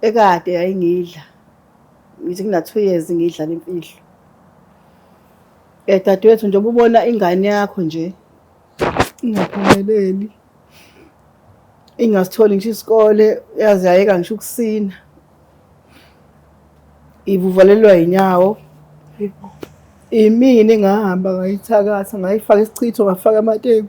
ekade yayingidla ngithi ngina-two years ngiyidlala imfihlo um dadewethu njengoba ubona ingane yakho nje ingaphumeleli ingasitholi ngisho isikole yaze yayeka ngisho ukusina ibuvalelwa yinyawo imini ngahamba ngayithakatha ngayifaka isichitho ngafaka amateku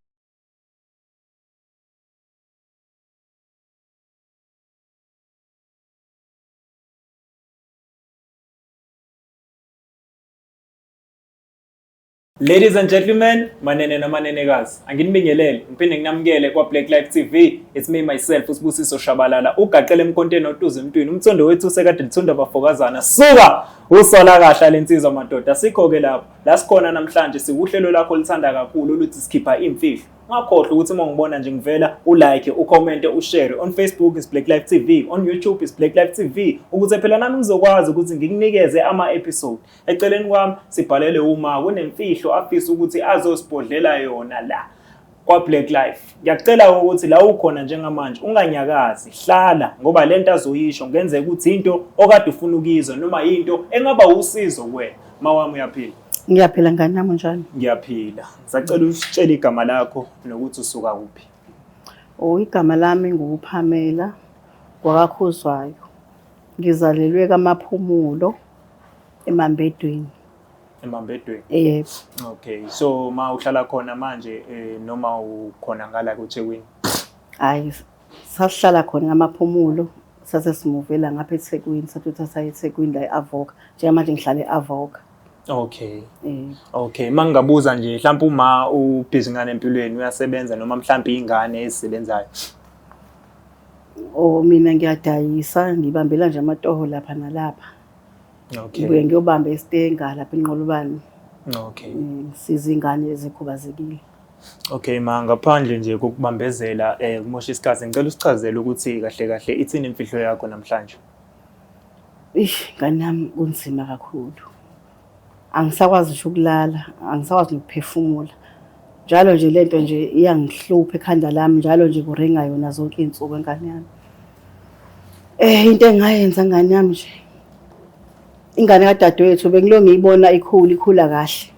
Ladies and gentlemen, manene namanenekazi, anginibingelele ngiphinde nginamukele kwa Black Life TV. It's me myself uSibusiso Shabalala. Ugaqele emkonteni otuza emntwini. Umthondo wethu sekade lithunda bafokazana. Suka usola kahle lensizwa madoda. Sikho ke lapho. La sikhona namhlanje siwuhlelo lakho olithanda kakhulu oluthi sikhipha imfihlo. Ungakhohlwa ukuthi uma ngibona nje ngivela ulike, ucommente, ushare on Facebook is Black Life TV, on YouTube is Black Life TV ukuze phela nami ngizokwazi ukuthi ngikunikeze ama episode. Eceleni kwami sibhalele uma kunemfihlo afisa ukuthi azosibhodlela yona la. kwaBlack Life. Ngiyakucela ukuthi la ukhona njengamanje unganyakazi, hlala ngoba le nto azoyisho kungenzeka ukuthi into okade ufuna ukuyizwa noma yinto engaba usizo kuwena. Mawami uyaphila? Ngiyaphila ngane yami njani? Ngiyaphila. Ngisacela usitshele igama lakho nokuthi usuka kuphi. Oh, igama lami nguPamela kwakaKhuzwayo. Ngizalelwe kaMaphumulo eMambedweni. emambedweni yebo okay so ma uhlala khona manje eh, noma ukhona ngala koThekwini hayi sasihlala khona ngamaphumulo sase simuvela ngapha eThekwini sathuthatha eThekwini la e-Avoka njengamanje ngihlala e-Avoka Okay. Mm. Okay, mangingabuza nje mhlawumbe uma ubhizi ngane empilweni uyasebenza noma mhlawumbe ingane ezisebenzayo. Oh mina ngiyadayisa ngibambela nje amatoho lapha nalapha. Okay. Ngibuye ngiyobamba eStenga lapha eNqolobane. Okay. Eh, Siza ingane ezikhubazekile. Okay ma ngaphandle nje kokubambezela eh kumosha isikhathi ngicela usichazele ukuthi kahle kahle ithini imfihlo yakho namhlanje. Ish ngane yami kunzima kakhulu. Angisakwazi nje ukulala, angisakwazi nokuphefumula. Njalo nje lento nje iyangihlupha ekhanda lami, njalo nje kuringa yona zonke izinsuku engane yami. Eh into engayenza ngane yami nje. Ingane kadadewethu bengilo ngiyibona ikhula ikhula kahle.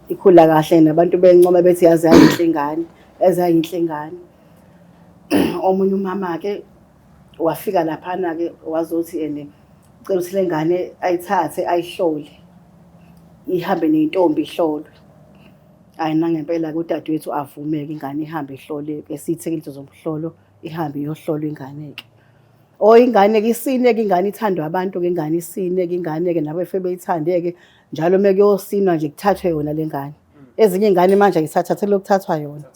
Ikhula kahle nabantu bencoma bethi yazi yayinhle ingane, yazi yayinhle ingane. Omunye umama ke wafika laphana ke wazothi ene cela ukuthi lengane ayithathe ayihlole. Ihambe nentombi ihlolwe. Hayi nangempela kodadewethu avumeke ingane ihambe ihlole esithekile zomhlolo. ihambe iyohlolwa ingane-ke or oh, ingane-ke isineke ingane ithandwa abantu ke ingane isineke ingane-ke nabefebe beyithande-ke njalo uma kuyosinwa nje kuthathwe yona le ngane ezinye iy'ngane manje ayisathathele lokuthathwa yona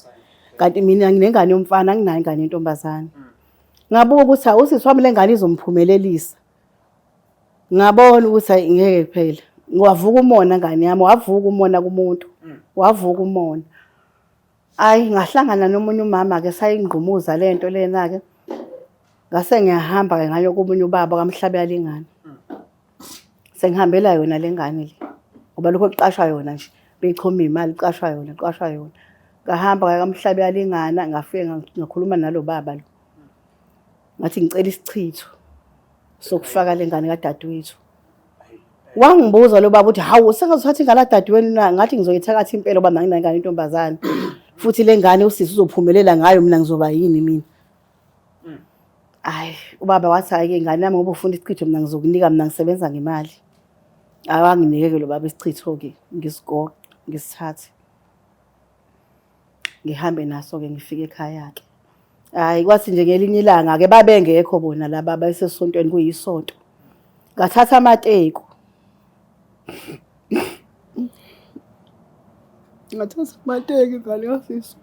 kanti mina nginengane yomfana anginayo ingane yentombazane ngabuka ukuthi awusisi wami le ngane izomphumelelisa ngabona ukuthi ayi ngeke kuphela wavuka umona ngane yami wavuka umona kumuntu wavuka umona Ayi ngahlangana nomunye umama ke sayingqumuza lento lena ke. Ngase ngiyahamba ke ngayo komunye ubaba kamhlabe yalingana. Sengihambela yona lengane le. Ngoba lokho kuqashwa yona nje. Beyichoma imali kuqashwa yona, kuqashwa yona. Ngahamba ngaya kamhlabe yalingana ngafike nga- ngakhuluma nalobaba lo. Ngathi ngicela isichitho sokufaka lengane kadadewethu. wangibuza lo baba ukuthi hawu sengazothatha ingane adadewenu na ngathi ngizoyithakatha impela uba manginayo ingane intombazane futhi le ngane usisi uzophumelela ngayo mina ngizoba yini mina hayi ubaba wathi hhayi-ke ingane yami ngoba ufuna isichitho mina ngizokunika mina ngisebenza ngemali awanginike-ke lo baba isichitho-ke ngisigoqe ngisithathe ngihambe naso ke ngifike ekhaya ke hayi kwathi nje ngelinye ilanga ke babengekho bona laba basesontweni kuyisonto ngathatha amateku ngathatha amateku ngale office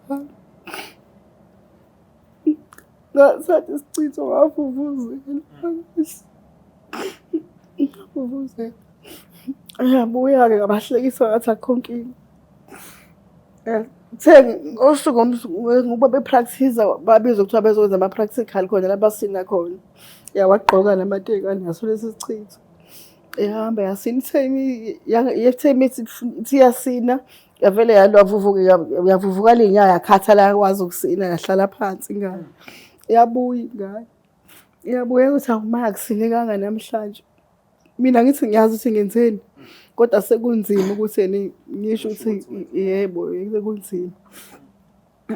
ngasathi isichitho ngavuvuzela ngavuvuzela ayabuya-ke ngabahlekisa ngathi akho nkinga Eh, Kuthe ngosuku ngoba bepractice babizwa kuthiwa bezokwenza ama-practical khona la basina khona. Ya wagqoka namateki anaso lesi sichitho. Ehamba yasina ithe imi- ya- ithe imi ithi ifuna- ithi iyasina yavele yalwa vuvuka yavuvuka ley'nyawo yakhathala yakwazi ukusina yahlala phansi ingane. Yabuya ingane. Iyabuya ukuthi awumakusine kanga namhlanje. mina ngithi ngiyazi ukuthi ngenzeni kodwa sekunzima ukuthi yena ngisho ukuthi yebo sekunzima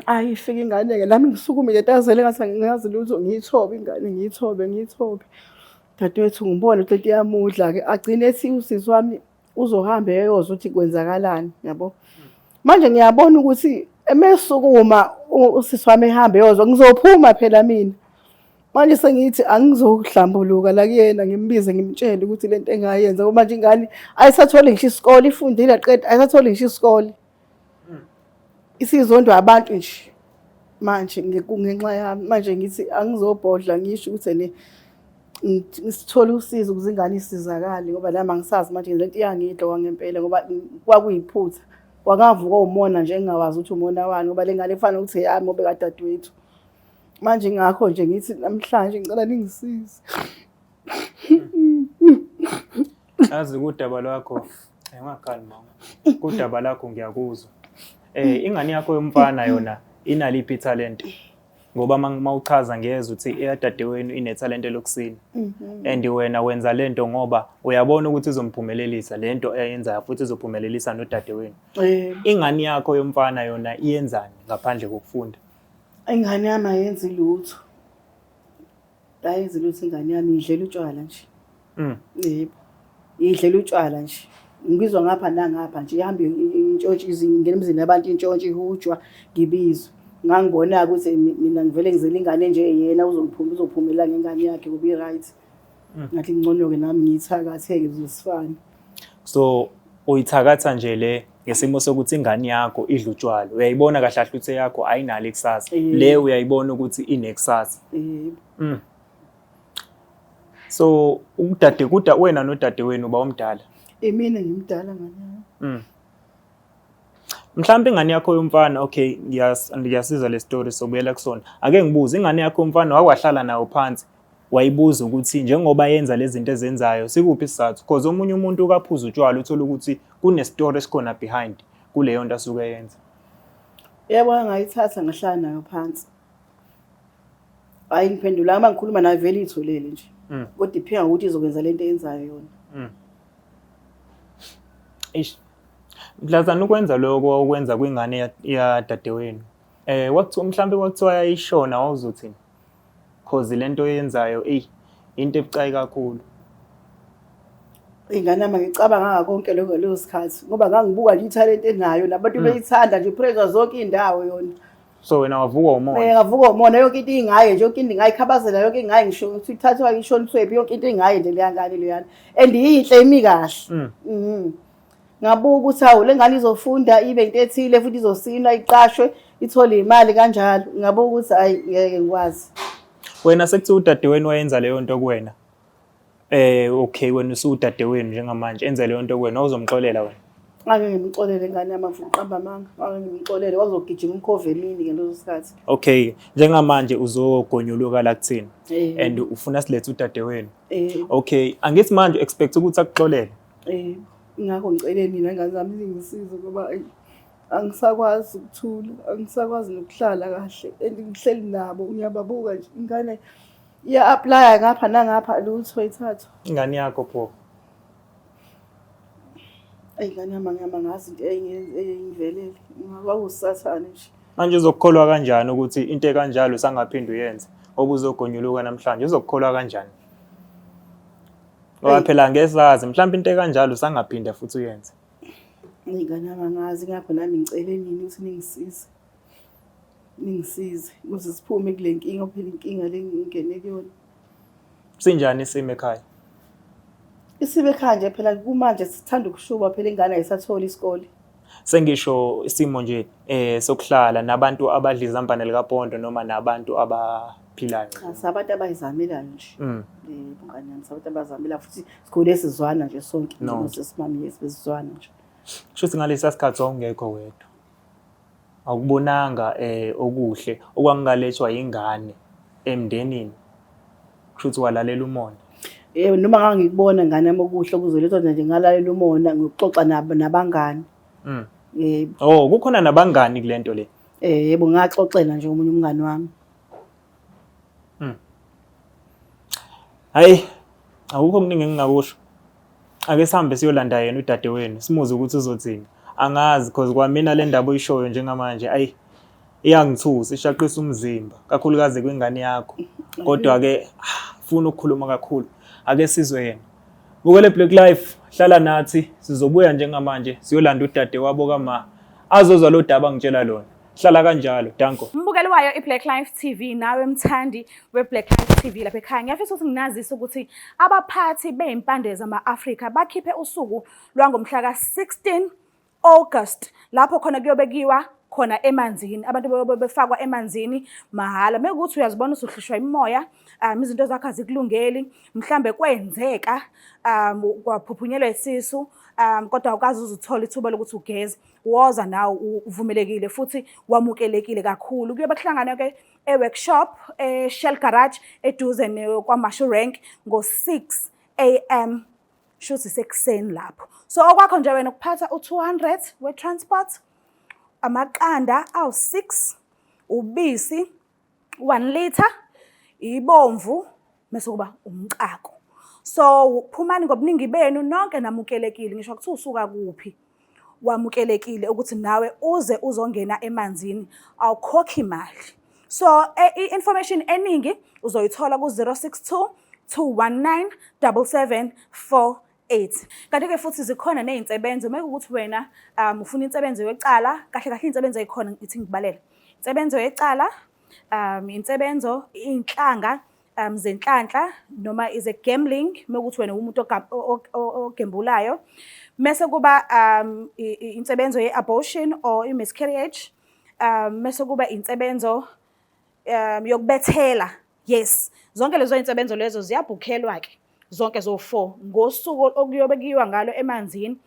ayi fika ingane-ke nami ngisukumile tazele ngathi ngingazi lutho ngiyithobe ingane ngiyithobe ngiyithobe dadewethu ngibone ukuthi lento iyamudla-ke agcine ethi usisi wami uzohambe eyozwa ukuthi kwenzakalani yabo manje ngiyabona ukuthi emesukuma usisi wami ehambe eyozwa ngizophuma phela mina manje sengithi angizohlambuluka la kuyena ngimbize ngimtshele ukuthi lento engayenza ngoba manje ingane ayisatholi ngisho isikole ifundile qeda ayisatholi ngisho isikole isizondwa abantu nje manje ngenxa yami manje ngithi angizobhodla ngisho ukuthi ene ngisithole usizo ukuze ingane isizakale ngoba nami angisazi manje le nto iyangidloka ngempela ngoba kwakuyiphutha kwakavuka umona nje engingawazi ukuthi umona wani ngoba le ngane kufanele ukuthi eyami obe kadadewethu manje ngakho nje ngithi namhlanje ngicela ningisize Azi kudaba lwakho engakhali mama. Kudaba lakho ngiyakuzwa. Eh ingane yakho yomfana yona inaliphi talent? Ngoba mawuchaza ngezwe uthi eyadadewenu inetalent lokusina. Mhm. And wena wenza lento ngoba uyabona ukuthi izomphumelelisa lento eyenzayo futhi izophumelelisa nodadewenu. Eh. Ingane yakho yomfana yona iyenzani ngaphandle kokufunda? Ingane yami ayenzi lutho. ayenzi lutho ingane yami idlela utshwala nje mm. yebo idlela utshwala nje ngibizwa ngapha nangapha nje ihambe intshontshe izingena emzini yabantu intshontshe ihujwa ngibizwe ngangibona-ke ukuthi mina ngivele ngizele ingane nje yena uzophuma uzophumela ngengane yakhe kube right mm. ngathi ngcono-ke nami ngiyithakatheke zosifane so uyithakatha nje le ngesimo sokuthi ingane yakho idla utshwala uyayibona kahle kahle ukuthi yakho ayinalo ikusasa Eh. le uyayibona ukuthi inekusasa Eh, mm. so udade kuda wena nodade wenu uba omdala imina ngimdala ngane yami mm. mhlawumbe ingane yakho yomfana okay ngiyas- ngiyasiza le story sobuyela kusona ake ngibuze ingane yakho yomfana wawahlala nayo phansi wayibuza ukuthi njengoba yenza lezi zinto ezenzayo sikuphi isizathu because omunye umuntu ukaphuza utshwala uthola ukuthi kunestory esikhona behind kuleyo nto asuke yenza yebo ngayithatha ngahlala nayo phansi hayi ngiphendula uma ngikhuluma nayo vele itholele nje mm. kodwa iphinga ukuthi izokwenza le nto eyenzayo yona mm. eish mhlazana ukwenza lokho okwenza kwingane yadadewenu um eh, mhlawumbe kwakuthiwa yayishona wawuzothini cause lento oyenzayo eyi into ebucayi kakhulu ingane yami ngicabanga ngakonke lokho ngaleso sikhathi ngoba ngangibuka nje ithalente enayo nabantu hmm. beyithanda nje praise zonke indawo yona so wena wavuka umona eh ngavuka umona yonke into ingaye nje yonke into ingayikhabazela yonke ingaye ngisho ukuthi ithathwa ishoniswephi yonke into ingaye nje leyangane leyana and yinhle imi kahle mhm ngabuka ukuthi awu le ngane izofunda ibe into ethile futhi izosinwa iqashwe ithole imali kanjalo ngabuka ukuthi ayi ngeke ngikwazi wena sekuthiwa udadewenu wayenza leyo nto kuwena eh okay wena usudadewenu njengamanje enze leyo nto kuwena uzomxolela wena ngake ngimxolele ngane yamavuqamba amanga ngake ngimxolele wazogijima umkhova emini ngaleso sikhathi okay njengamanje uzogonyuluka la kuthina eh. and ufuna silethe udadewenu eh. okay angithi manje expect ukuthi akuxolele Eh ingakho ngicele mina ngane zami zingisize ngoba angisakwazi ukuthula angisakwazi nokuhlala kahle and ngihleli nabo ngiyababuka nje ingane iya-aplaya ngapha nangapha lutho ithathu ingane yakho pho eyi ngane yami angihamba ngazi into eyengivelele ngakwakusathane nje manje uzokukholwa kanjani ukuthi into ekanjalo sangaphinde uyenze obuzogonyuluka namhlanje uzokukholwa kanjani Ngoba phela ngesazi mhlawumbe into ekanjalo usangaphinde futhi uyenze. Ngingane abangazi ngakho nami ngicele nini ukuthi ningisize. Ningisize ukuze siphume kule nkinga phela inkinga le ngingene kuyona. Sinjani isimo ekhaya? Isimo ekhaya nje phela kumanje sithanda ukushuba phela ingane ayisatholi isikole. sengisho isimo nje eh sokuhlala nabantu abadla izambane likapondo noma nabantu abaphilayo cha sabantu abayizamelayo nje mm. eh bungane yami sabantu abazamela futhi sikhule sizwana nje sonke no. sesimami yesizwana nje shuthi ngalesa sikhathi wawungekho wedwa Awukubonanga um okuhle okwangingalethwa yingane emndenini kusho ukuthi walalela umona Eh noma ngangikubona ngane yami okuhle okuzolethwa nje ngalalela umona ngikuxoxa nabo nabangani. Mm. Eh Oh kukhona nabangani kulento le. eh yebo ngaxoxela nje omunye umngani wami. Hayi awukho kuningi engingakusho. ake sihambe siyolanda yena udade wenu simuze ukuthi uzothini angazi cause kwamina le ndaba oyishoyo njengamanje ayi iyangithusa ishaqisa umzimba kakhulukazi kwingane yakho kodwa ke ah, funa ukukhuluma kakhulu ake sizwe yena bukele black life hlala nathi sizobuya njengamanje siyolanda udade wabo kama azozwa lo daba ngitshela lona hlala kanjalo danko mbukeli wayo i-black life tv nawe mthandi we-black life tv lapha ekhaya ngiyafisa ukuthi nginazise ukuthi abaphathi beyimpande zama-afrika bakhiphe usuku lwangomhla ka-16 august lapho khona kuyobekiwa khona emanzini abantu bayobe befakwa emanzini mahhala mekuthi uyazibona usuhlushwa imoya um izinto zakho azikulungeli mhlambe kwenzeka um kwaphuphunyelwa isisu um kodwa awukazi uzuthola ithuba lokuthi ugeze woza nawe uvumelekile futhi wamukelekile kakhulu kuyobe kuhlangana ke e-workshop e-shell garage eduze kwamashu rank ngo-6 am shuthi sekuseni lapho so okwakho nje wena ukuphatha u-200 we-transport amaqanda awu-6 ubisi one litre ibomvu mese kuba umcako so phumani ngobuningi benu nonke namukelekile ngisho kuthiwa usuka kuphi wamukelekile ukuthi nawe uze uzongena emanzini awukhokhi imali so e, i-information eningi uzoyithola ku-062 219 7748 AIDS. Kanti-ke futhi zikhona ney'nsebenzo, uma kuwukuthi wena um ufuna insebenzo yecala, kahle kahle iy'nsebenzo ey'khona ithi ngikubalele. Insebenzo yecala, um insebenzo, iy'nhlanga um zenhlanhla noma ize-gambling, uma kuwukuthi wena uwumuntu ogembulayo. Mese kuba um insebenzo ye-abortion or i-miscarriage, um mese kuba insebenzo um yokubethela, yes zonke lezo insebenzo lezo ziyabhukhelwa ke zonke zo four ngosuku okuyobe kuyiwa ngalo emanzini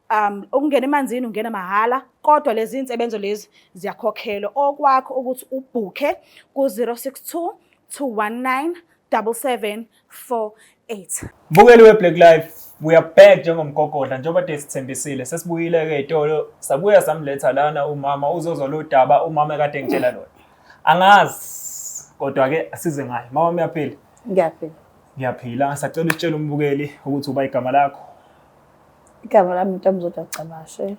um ukungena emanzini ungena mahhala kodwa lezi insebenzo lezi ziyakhokhelwa okwakho ukuthi ubhukhe ku 062 219 7740 8 Mbukeli weBlack Life we are back njengomgogodla njengoba de sithembisile sesibuyile ke itolo sabuya samletha lana umama uzozwa lo daba umama kade ngitshela lona angazi kodwa ke asize ngayo mama uyaphila ngiyaphila ngiyaphila sacela utshela umbukeli ukuthi uba igama lakho igama lami ntombi zodwa cabashe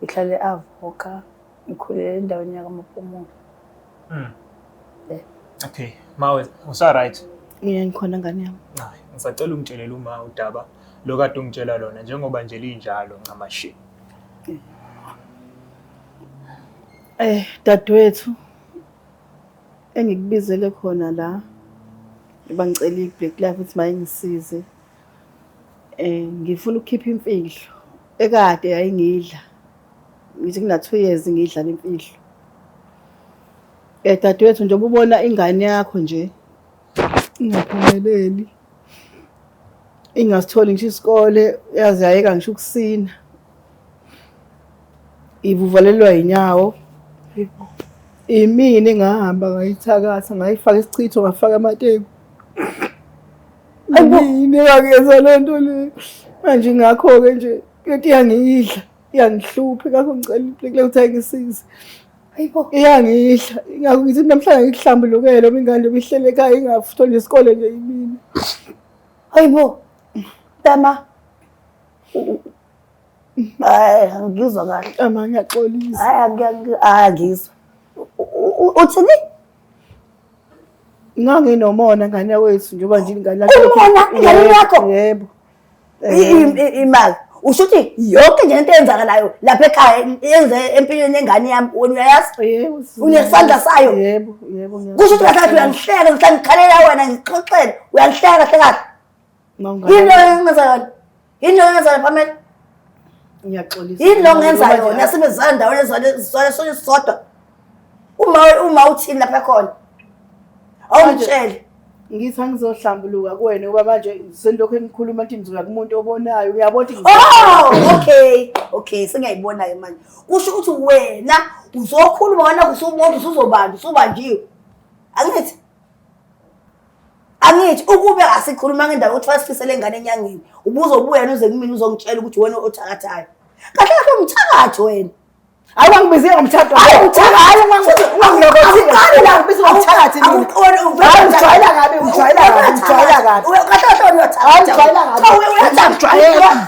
ngihlale avoka ngikhulele endaweni yakamapumulo mm. yeah. okay mawe usaright yeah ngikhona ngane yami hayi ngisacela ungitshelele uma udaba lo kade ungitshela lona njengoba nje linjalo ncamashi eh dadwethu engikubizele khona la bangicela i-black life ukuthi mayingisize eh ngifuna ukukhipha imfihlo ekade yayingidla ngithi ngina-two years ngidla le mfihlo um dadewethu njengoba ubona ingane yakho nje ingaphumeleli ingasitholi ngisho isikole yaze yayeka ngisho ukusina ivuvalelwa yinyawo imini ngahamba ngayithakatha ngayifaka isichitho ngafaka amateku nginekakeza le nto le manje ngakho-ke nje lento iyangiyidla iyangihlupha ngakho ngicela iplekile ukuthi ayingisize iyangidla ingakho ngithi namhlanje ngikuhlambulukele uma ingane bihlele ekhaya ingafuthwa nje isikole nje imina hayi bo tama hayi angizwa kahle ama ngiyaxolisa hayi angizwa uthini nganginomona ngane wethu njengoba nje ingane yakho Umona, ingane Yebo, yakho? yebo I- i- i- imali usho ukuthi yonke nje into eyenzakalayo lapha ekhaya yenze empilweni yengane yami wena uyayazi yebo Unesandla sayo? yebo yebo ngiyazi. kusho ukuthi kahle kahle uyangihleka ngihlale ngikhalela wena ngixoxele uyangihleka kahle kahle yini lo engenza yona yini lo engenza yona pamela ngiyaxolisa yini lo ngenza yona sibezana ndawona ezizwana sonke sisodwa uma uma uthini lapha khona awungitshele ngithi angizohlambuluka kuwena ngoba manje senilokhu enikhuluma ukuthi nizoya kumuntu obonayo uyabona ukuthi oh okay okay sengiyayibonayo manje kusho ukuthi wena uzokhuluma wena kusumuntu usuzobantu usubanjiwe angithi angithi ukube asikhuluma ngendaba ukuthi wasifisele ingane enyangeni ubuzobuya nuze kumina uzongitshela ukuthi wena othakathayo kahle kahle umthakathi wena hayi wangibizile ngomthatho hayi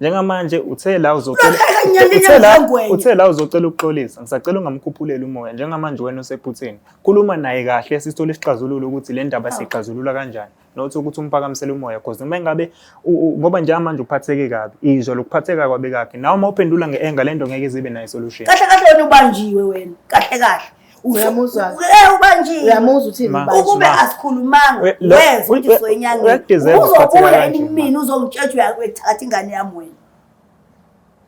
njengamanje uthe la uzocela uthe la uthe la uzocela ukuxolisa ngisacela ungamkhuphuleli umoya njengamanje wena usephutheni khuluma naye kahle sisithola isixazululo ukuthi le ndaba sixazulula kanjani not ukuthi umpakamisele umoya because noma engabe ngoba njengamanje uphatheke kabi izwa lokuphatheka kwabe kakhe nawe uma uphendula nge-anger le nto ngeke izibe nayo isolution kahle kahle wena ubanjiwe wena kahle kahle uyamuzwa eh ubanjile uyamuzwa uthi ukube asikhulumanga weza ukuthi soyinyangeni uzobuya enimini uzongitshetha uyakuthatha ingane yami wena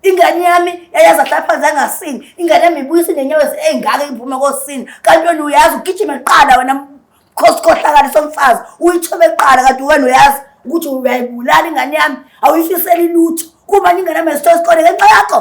ingane yami yayazi ahlapha zangasini ingane yami ibuyisa inenyawo ezingaka iphume kosini kanti wena uyazi ugijime kuqala wena khosikhohlakala somfazi uyithobe kuqala kanti wena uyazi ukuthi uyayibulala ingane yami awuyifiseli lutho kuba ingane yami esitho esikole ngenxa yakho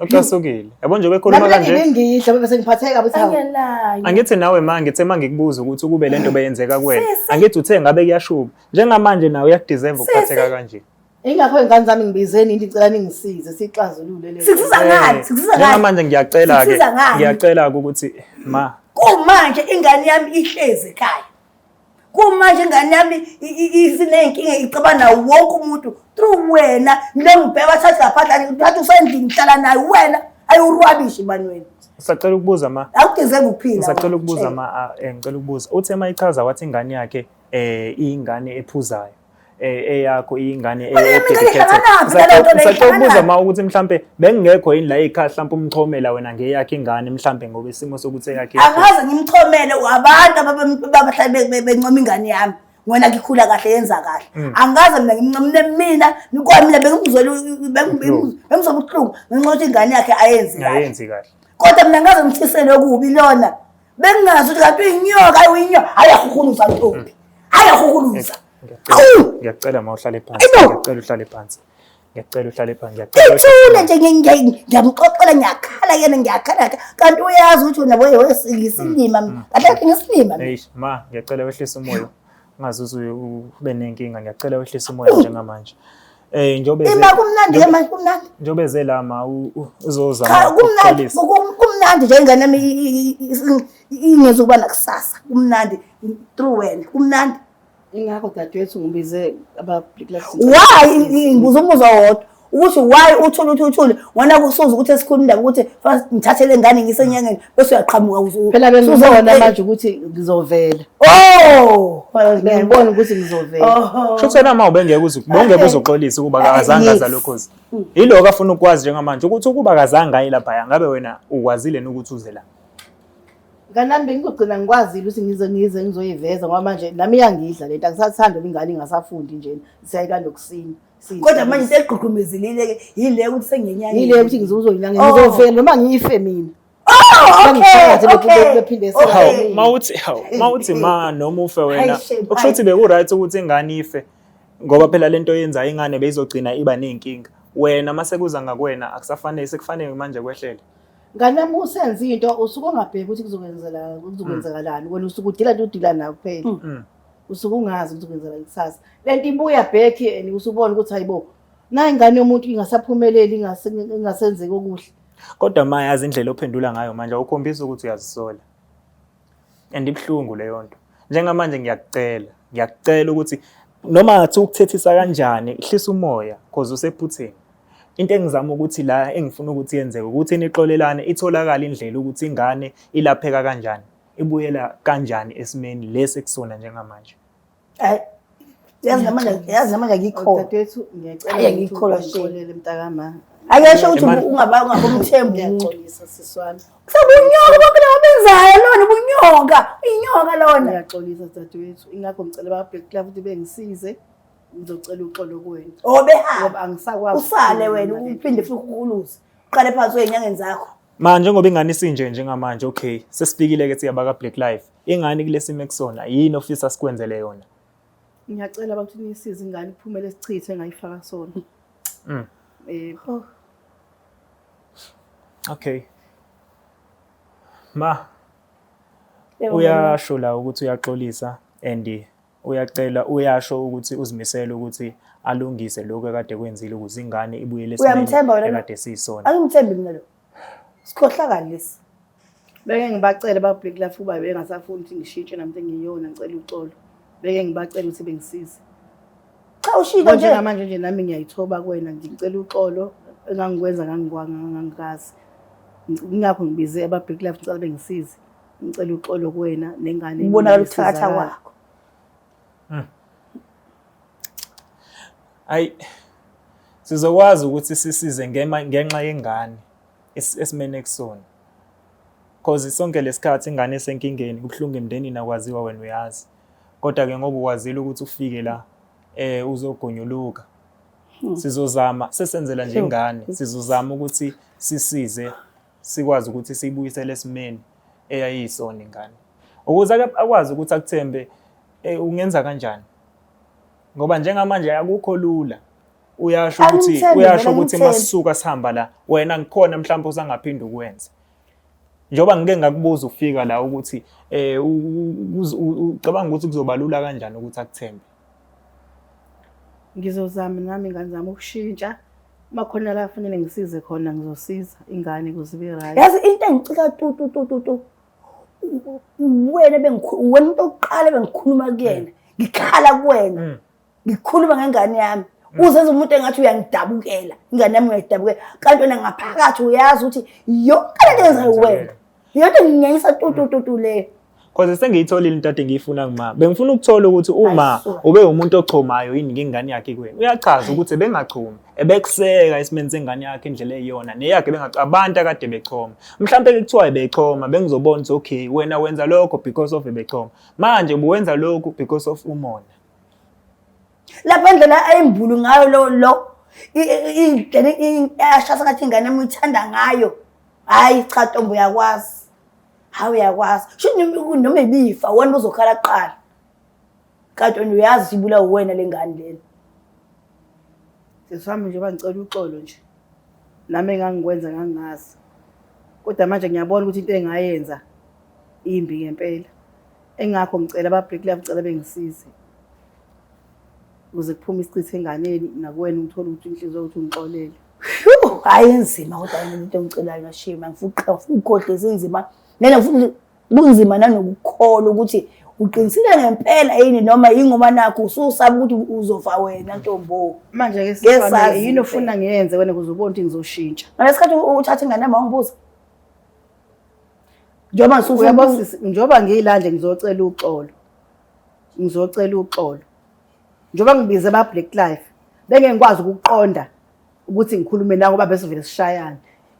Ucasukile. Yabo nje bekhuluma kanje. Nami ngidla bebe sengiphatheka ukuthi hawu. Angithi nawe ma ngithe ma ngikubuza ukuthi ukube lento beyenzeka kuwena. Angithi uthe ngabe kuyashuba. Njengamanje nawe uyakudeserve ukuphatheka kanje. Ingakho ingane zami ngibizeni into icela ningisize sixazulule le. Sikusiza ngani? Sikusiza ngani? Njengamanje ngiyacela ke. Ngiyacela ukuthi ma. Kumanje ingane yami ihlezi ekhaya. kumanje ingane yami isinenkinga icabana nawo wonke umuntu through wena ngile ngibheka bathatha laphandla ngithatha usendlini ngihlala naye wena ayiwurwabishi mani wena sacela ukubuza ma akudizeki ukuphila sacela ukubuza ma eh, ngicela ukubuza uthe uma ichaza wathi ingane yakhe eh ingane ephuzayo eh, eyakho iyingane eyakhekhetheusacela ma ukuthi mhlampe bengingekho yini la ekhaya mhlampe umchomela wena ngeyakhe ingane mhlampe ngoba isimo sokuthi eyakhe angaze ngimchomele wabantu ababahlale bencoma ingane yami ngona ngikhula kahle yenza kahle mm. angaze mina ngimncomile mina kwamina bengimzwela bengimzwa ubuhlungu ngenxa ukuthi ingane yakhe ayenzi kahle kodwa mina ngaze ngithisele okubi lona bengingazi ukuthi kanti uyinyoka ayi uyinyoka hayi yahukuluza ntombi hayi yahukuluza ngiyacela ma uhlale phansi ngiyacela uhlale phansi ngiyacela uhlale phansi ngiyacela ithule nje ngiyamxoxela ngiyakhala yena ngiyakhala kanti uyazi ukuthi wena wewe ngisilima mm, mm, kahle mm. ngisilima ma ngiyacela wehlisa umoya ngazi uze ube nenkinga ngiyacela wehlisa umoya njengamanje Eh njobe ze. Ima kumnandi ke manje kumnandi. Njobe ze la ma uzoza. Cha kumnandi kumnandi nje ingane yami ingezwe kuba nakusasa. Kumnandi through wena kumnandi. Ingakho dadewethu ngibize aba Black Lives. Why ngibuza umuzwa wodwa. ukuthi why uthule uthi uthule ngona kusuza ukuthi esikhuluma indaba ukuthi ngithathe le ngane ngisenyangeni bese uyaqhamuka phela bengizobona manje ukuthi ngizovela oh ngibona ukuthi ngizovela oh. sho kuthena uma ubengeke uze bongeke uzoxolisa ukuba ah, akazange aza lokhozi hmm. yiloko afuna ukwazi njengamanje ukuthi ukuba akazange ayi lapha ngabe wena ukwazile ukuthi uze la kanami bengizogcina ngikwazile ukuthi ngize ngize ngizoyiveza ngoba manje nami iyangidla lento angisathandi ingane ingasafundi nje siyayilanda okusini kodwa manje into egqugqumezilile ke yile ukuthi sengenyanga yile ukuthi ngizozoyinyanga oh. ngizofela noma ngiyife mina oh, mawuthi mawuthi ma noma ufe wena okusho ukuthi beku-right ukuthi ingane ife ngoba phela le nto yenza ingane beyizogcina iba ney'nkinga wena uma sekuza ngakwena akusafanele sekufanele manje kwehlele ngane yami usenza into usuke ongabheki ukuthi kuzokwenzelani kuzokwenzakalani wena usuke udila nto udila nayo kuphela mm. usuke ungazi ukuthi kwenzeka ikusasa lento ibuya back and usubona ukuthi hayibo nayi ingane yomuntu ingasaphumeleli ingasenzeki okuhle kodwa ma yazi indlela ophendula ngayo manje ukhombisa ukuthi uyazisola and ibuhlungu leyo nto njengamanje ngiyakucela ngiyakucela ukuthi noma ngathi ukuthethisa kanjani hlisa umoya cause usephutheni into engizama ukuthi la engifuna ukuthi yenzeke ukuthi nixolelane itholakala indlela ukuthi ingane ilapheka kanjani ebuyela kanjani esimeni lesi ekusona njengamanje Ay, yazi namanje yazi namanje akikho Dadethu ngiyacela Ayi, ukuthi angikholwa shame. ungixolele mntakama. akesho ukuthi Emani- ungaba ungabomthembu umuntu Ngiyaxolisa sisi wami. Ubunyoka bonke laba benzayo lona ubunyoka inyoka lona Ngiyaxolisa dadewethu. Ingakho ngicela ba Black Club ukuthi bengisize. Ngizocela uxolo kuwena. obehamba Ngoba angisakwazi. usale ukukhuluma wena nale. uphinde futhi ukuluze uqale phansi wenyangeni zakho Manje njengoba ingane isinje njengamanje okay sesifikile ke siyaba ka Black Life. Ingane kulesimo ekusona yini ofisa sikwenzele yona? Ngiyacela bakuthi nisize ingane iphumele sichithe ngayifaka sona. Mm. Eh oh. Okay. Ma uyasho la ukuthi uyaxolisa and uyacela uyasho ukuthi uzimisele ukuthi alungise lokho ekade kwenzile ukuze ingane ibuyele Uyamthemba wena na? ekade siyisona angimthembi mina lo sikhohlakali lesi beke ngibacele babheki lafu uba bengasafuni ukuthi ngishintshe namntu engiyona ngicela uxolo beke ngibacele ukuthi bengisize cha ushilo nje njengamanje nje nami ngiyayithoba kuwena ngicela uxolo engangikwenza ngangikwanga ngangikazi Ngi- ngingakho ngibize ababheki lafu ngicela bengisize ngicela uxolo kuwena nengane ubonakala ukuthakatha kwakho hmm. ayi sizokwazi ukuthi sisize ngenxa yengane esimene kusona cause sonke lesikhathi ingane esenkingeni kubuhlungu emndenini akwaziwa wena uyazi kodwa ke ngoba ukwazile ukuthi ufike la eh uzogonyuluka hmm. sizozama sesenzela nje ingane sizozama ukuthi sisize sikwazi ukuthi siyibuyisele esimeni eyayiyisona ingane ukuze akwazi ukuthi akuthembe eh, ungenza kanjani ngoba njengamanje akukho lula uyasho ukuthi uyasho ukuthi masisuka sihamba la wena ngikhona mhlawumbe usangaphinda ukwenza njengoba ngike ngakubuza ufika la ukuthi eh ucabanga ukuthi kuzobalula kanjani ukuthi akuthembe Ngizozama nami ingane zami ukushintsha uma khona la kufanele ngisize khona ngizosiza ingane kuze ibe right. Yazi into engicika tu tu tu tu tu. Wena bengikhuluma wena umuntu oqala bengikhuluma kuyena. Ngikhala kuwena. Mm. Ngikhuluma ngengane yami. Mm. Uzenza umuntu engathi uyangidabukela. Ingane yami uyayidabukela. Kanti wena ngaphakathi uyazi ukuthi yonke lento yenza wena. Yonke nginyanyisa tu tu tu tu leyo. Cause sengiyitholile into ade ngiyifuna kuma. Bengifuna ukuthola ukuthi uma ube umuntu ochomayo yini ngengane yakhe kuwe. Uyachaza ukuthi bengachomi, ebekuseka isimeni sengane yakhe indlela eyiyona neyakhe bengachomi. Abantu akade bechoma. Mhlambe kuthiwa ebechoma bengizobona ukuthi okay wena wenza lokho because of ebechoma. Manje ubuwenza lokho because of umona. lapha ndlela ayimbulu ngayo lo lo indlela ashasa ngathi ingane emuyithanda ngayo hayi cha ntombi uyakwazi hayi uyakwazi sho noma ibifa wena uzokhala kuqala kanti wena uyazi ibula uwena le ngane lena sesihamba nje bangicela uxolo nje nami engangikwenza ngangingazi kodwa manje ngiyabona ukuthi into engayenza imbi ngempela Engakho ngicela ba Brick Love cela bengisize. Ukuze kuphume isichithe enganeni nakuwena ngithola ukuthi inhliziyo ukuthi ngixolele. Hayi enzima kodwa yena into engicelayo na shame ngifuqa ugodle zinzima. Mina futhi kunzima nanokukholwa ukuthi uqinisile ngempela yini noma yingoba nakho ususaba ukuthi uzofa wena ntombo manje ke sifana yini ofuna ngiyenze wena kuze ubone ukuthi ngizoshintsha ngalesikhathi uthatha ingane yami wangibuza njengoba uyabo sisi njengoba ngiyilande ngizocela uxolo ngizocela uxolo njengoba ngibize ba black life bengeke ngikwazi ukuqonda ukuthi ngikhulume nawe ngoba bese vele sishayana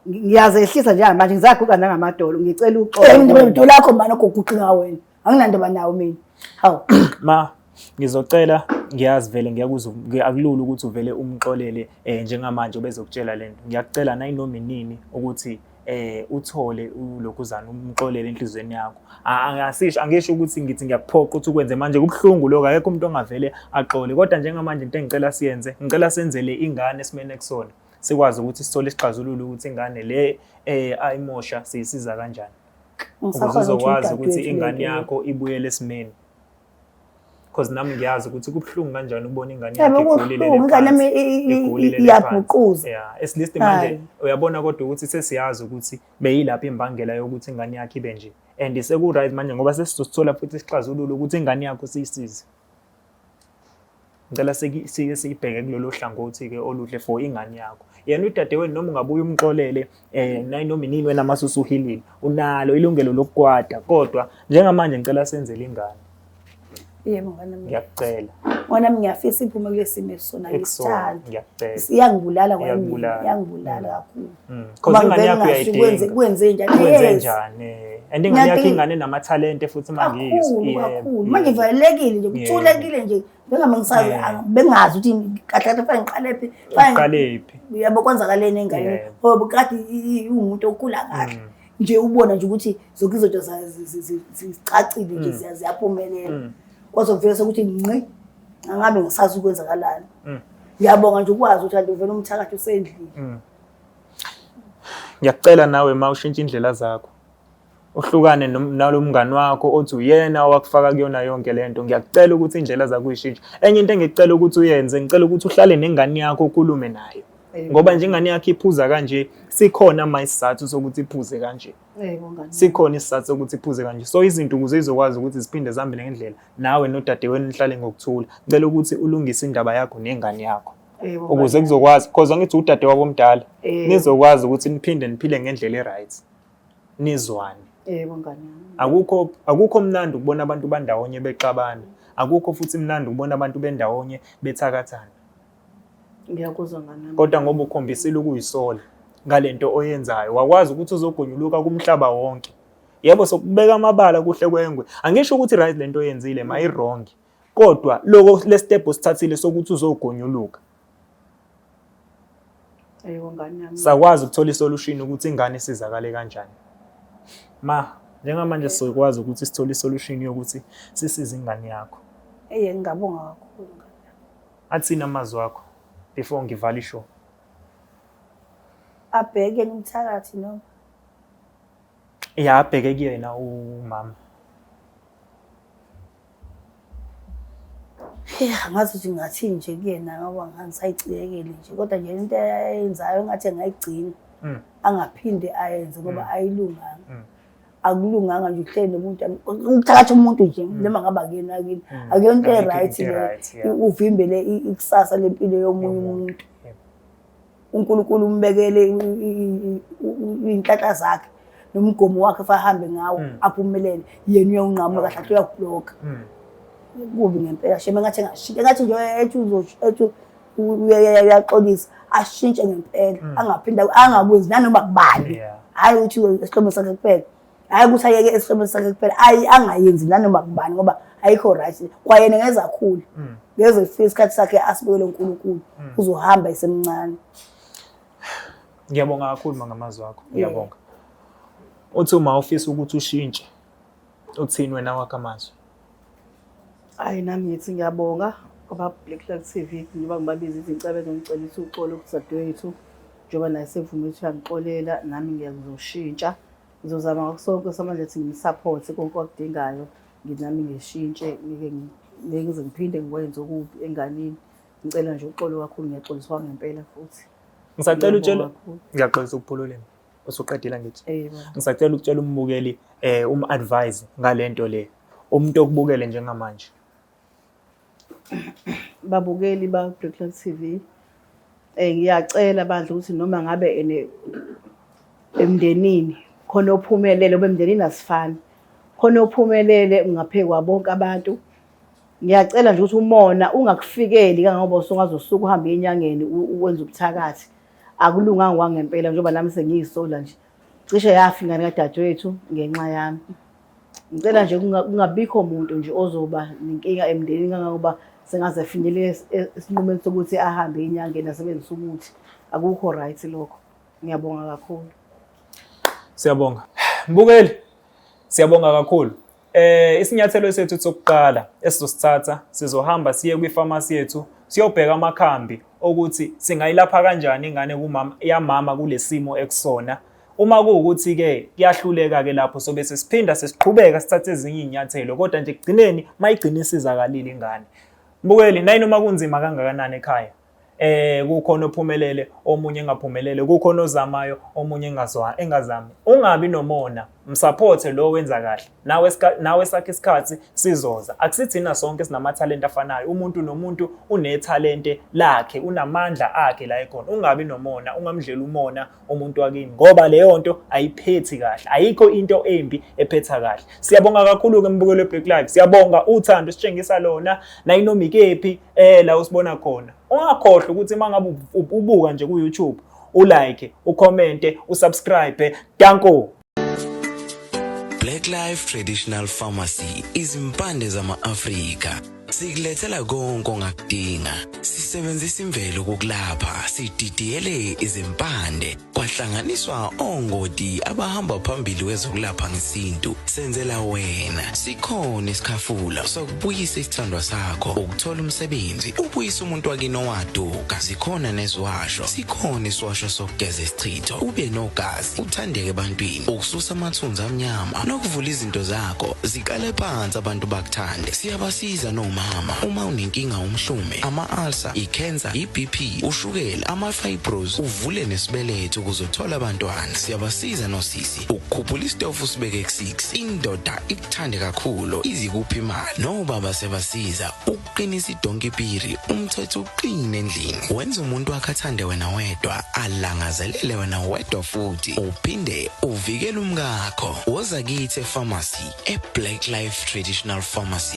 ngiyazehlisa njengamanje ngizaguqa nangamadolo ngicela uxolo eh, ngidolo lakho manje oguquqa wena anginandaba nawo mina hawu ma ngizocela ngiyazi vele ngiyakuzwa akulula ukuthi uvele umxolele eh njengamanje obezokutshela lento ngiyakucela nayinoma inini ukuthi eh uthole ulokhuzana umxolele enhlizweni yakho angasisho angisho ukuthi ngithi ngiyakuphoqa ukuthi ukwenze manje kubuhlungu lokho akekho umuntu ongavele axole kodwa njengamanje into engicela siyenze ngicela senzele ingane esimene ekusona sikwazi ukuthi sithole isixazululo ukuthi ingane le eh ayimosha siyisiza kanjani ukuze uzokwazi ukuthi ingane yakho ibuyele esimeni because nami ngiyazi ukuthi kubuhlungu kanjani ukubona ingane yakhe igulile ingane yami iyabhuquza yeah at least manje uyabona kodwa ukuthi sesiyazi ukuthi beyilapha imbangela yokuthi ingane yakhe ibe nje and seku right manje ngoba sesizothola futhi isixazululo ukuthi ingane yakho siyisize ngicela sike siyibheke kulolu hlangothi-ke oluhle for ingane yakho yena udadewenu noma ungabuye umxolele um eh, noma inini wena mase usuhilile unalo ilungelo lokukwata kodwa njengamanje ngicela senzele ingane yebo nganami ngiyakucela nganami ngiyafisa iphume kulesimo esona ngisithanda ngiyakubulala nganami ngiyakubulala kakhulu Mm. Uma ingane yakho uyayidinga. Kwenze njani? Kwenze njani? And ingane yakho ingane namathalente futhi mangiyizo. Kakhulu. Manje valelekile nje kuthulekile nje. Bengama ngisazi bengazi ukuthi kahle kahle fanele ngiqale phi. Fanele phi. Uyabo kwenzakaleni engane. Ngoba kade iwumuntu okhula kahle. Mm. Nje ubona nje ukuthi zonke izinto zicacile nje mm. ziyaphumelela. Kwaze kuvela ukuthi ngqi angabe ngisazi ukwenzakalani mm. ngiyabonga nje ukwazi ukuthi kanti uvela umthakathi usendlini mm. ngiyakucela nawe ma ushintshe indlela zakho uhlukane nalo mngani wakho othi uyena owakufaka kuyona yonke le nto ngiyakucela ukuthi iy'ndlela zakho uyishintshe enye into engicela ukuthi uyenze ngicela ukuthi uhlale nengane yakho ukulume nayo ngoba njengane yakho iphuza kanje sikhona ma isizathu sokuthi iphuze kanje sikhona isizathu sokuthi iphuze kanje so izinto ukuze izokwazi ukuthi ziphinde zihambele ngendlela nawe nodadewenu nihlale ngokuthula cela ukuthi ulungise indaba yakho nengane yakho ukuze kuzokwazi because angithi udade wabo omdala nizokwazi ukuthi niphinde niphile ngendlela e-right nizwane yebo ngane akukho akukho mnandi ukubona abantu bandawonye bexabana akukho futhi mnandi ukubona abantu bendawonye bethakathana ngiyakuzwa mama kodwa ngoba ukhombisile ukuyisola ngalento oyenzayo wakwazi ukuthi uzogonyuluka kumhlaba wonke yebo sokubeka amabala kuhle kwengwe angisho ukuthi right lento oyenzile ma iwrong kodwa loko le step osithathile sokuthi uzogonyuluka ayiwo ngane yami sakwazi ukuthola isolution ukuthi ingane isizakale kanjani ma njengamanje sikwazi ukuthi sithole isolution yokuthi sisize ingane yakho eye ngingabonga kakhulu Atsini amazwi wakho before ngivala ishow. Abheke umthakathi noma? Ya abheke kuyena umama. Yeah, ngathi nje ngathi nje kuyena ngoba ngisayicikekele nje kodwa nje into eyenzayo ngathi engayigcina. Mm. Angaphinde ayenze ngoba mm. ayilunganga. Mm. akulunganga nje ukuhleli nomuntu ukuthakatha umuntu nje mm. noma ngabe akuyena akini mm. akuyona into e-right le uvimbele ikusasa lempilo yomunye umuntu uNkulunkulu umbekele inhlanhla zakhe nomgomo wakhe fahambe ngawo mm. aphumelele yena uyawunqamuka kahle athi uyakubloka kubi ngempela shema ngathi engashintsha ngathi nje ethi uzothi uyaxolisa ashintshe ngempela mm. angaphinde angakwenzi nanoma kubani hhayi ukuthi esihlobeni sakhe kuphela hhayi ukuthi ayeke esihlobeni sakhe kuphela ayi angayenzi nanoma kubani ngoba ayikho right kwayena ngezakhulu mm. ngeze kufika isikhathi sakhe asibekele unkulunkulu mm. uzohamba esemncane ngiyabonga kakhulu mangamazwi akho ngiyabonga uthi uma ufisa ukuthi ushintshe uthini wena wakho amazwi Hayi nami ngithi ngiyabonga ngoba Black Flag TV njengoba ngibabiza izincebe ngicela ukuthi uxole ukuthi dadewethu njengoba naye sevume ukuthi uyangixolela nami ngiyakuzoshintsha ngizozama ngakho sonke samanje ukuthi ngimsaphothi konke akudingayo nginami ngishintshe ngike ngize ngiphinde ngikwenze okubi enganini ngicela nje uxolo kakhulu ngiyaxoliswa ngempela futhi ngisacela utshela ngiyaxolisa ukuphululeni usuqedile ngithi ngisacela ukutshela umbukeli eh um advise ngalento le umuntu okubukele njengamanje babukeli ba Brooklyn TV eh ngiyacela bandla ukuthi noma ngabe ene emndenini khona ophumelele obemndenini asifani khona ophumelele ungaphekwa bonke abantu ngiyacela nje ukuthi umona ungakufikeli kangangoba usungazosuka uhambe enyangeni uwenza ubuthakathi akulunganga kwangempela njengoba nami sengiyisola nje cishe yafi ingane kadadewethu ngenxa yami ngicela nje kungabikho muntu nje ozoba nenkinga emndenini kangangoba sengaze finyele esinqumeni sokuthi ahambe inyangeni asebenzise umuthi akukho right lokho ngiyabonga kakhulu siyabonga mbukeli siyabonga kakhulu Eh isinyathelo sethu sokuqala esizosithatha sizohamba siye kwifamasi yethu siyobheka amakhambi okuthi singayilapha kanjani ingane kumama yamama kulesimo ekusona uma kuwukuthi ke kuyahluleka ke lapho sobe sesiphinda sesiqhubeka sithathe ezinye izinyathelo kodwa nje kugcineni mayigcina isizakalile ingane mbukeli nayini uma kunzima kangakanani ekhaya eh kukhona ophumelele omunye engaphumelele kukhona ozamayo omunye engazwa engazami ungabi nomona msupporte lo wenza kahle nawe nawe sakhe isikhathi sizoza akusithina sonke sinamatalent afanayo umuntu nomuntu unetalente lakhe unamandla akhe la ekhona ungabi nomona ungamdlela umona umuntu wakini ngoba leyo nto ayiphethi kahle ayikho into embi ephetha kahle siyabonga kakhulu ke mbukelo Black Live siyabonga uthando sitshengisa lona nayinomikephi eh la usibona khona ungakhohlwa ukuthi mangabe ubuka nje ku YouTube ulike ucommente usubscribe danko Black Life Traditional Pharmacy izimpande zama-Afrika sikulethela konke ongakudinga sisebenzisa imvelo kokulapha sididiyele izimpande kwahlanganiswa ongoti abahamba phambili wezokulapha ngesintu senzela wena sikhona isikhafula sokubuyisa isithandwa sakho ukuthola umsebenzi ubuyisa umuntu wakini owaduka sikhona neziwasho sikhona isiwasho sokugeza isichitho ube nogazi uthandeke ebantwini ukususa amathunzi amnyama nokuvula izinto zakho ziqale phansi abantu bakuthande siyabasiza nomama uma unenkinga umhlume ama-ulcer i-cancer i-bp ushukela ama-fibros uvule nesibeletho ukuze uthole abantwana siyabasiza nosisi ukukhuphula isitofu usibeke ku-6 indoda ikuthande kakhulu izikuphi imali nobaba siyabasiza qinisa idonki piri umthetho uqine endlini wenza umuntu wakhe athande wena wedwa alangazelele wena wedwa futhi uphinde uvikele umkakho woza kithi epharmacy eblack life traditional pharmacy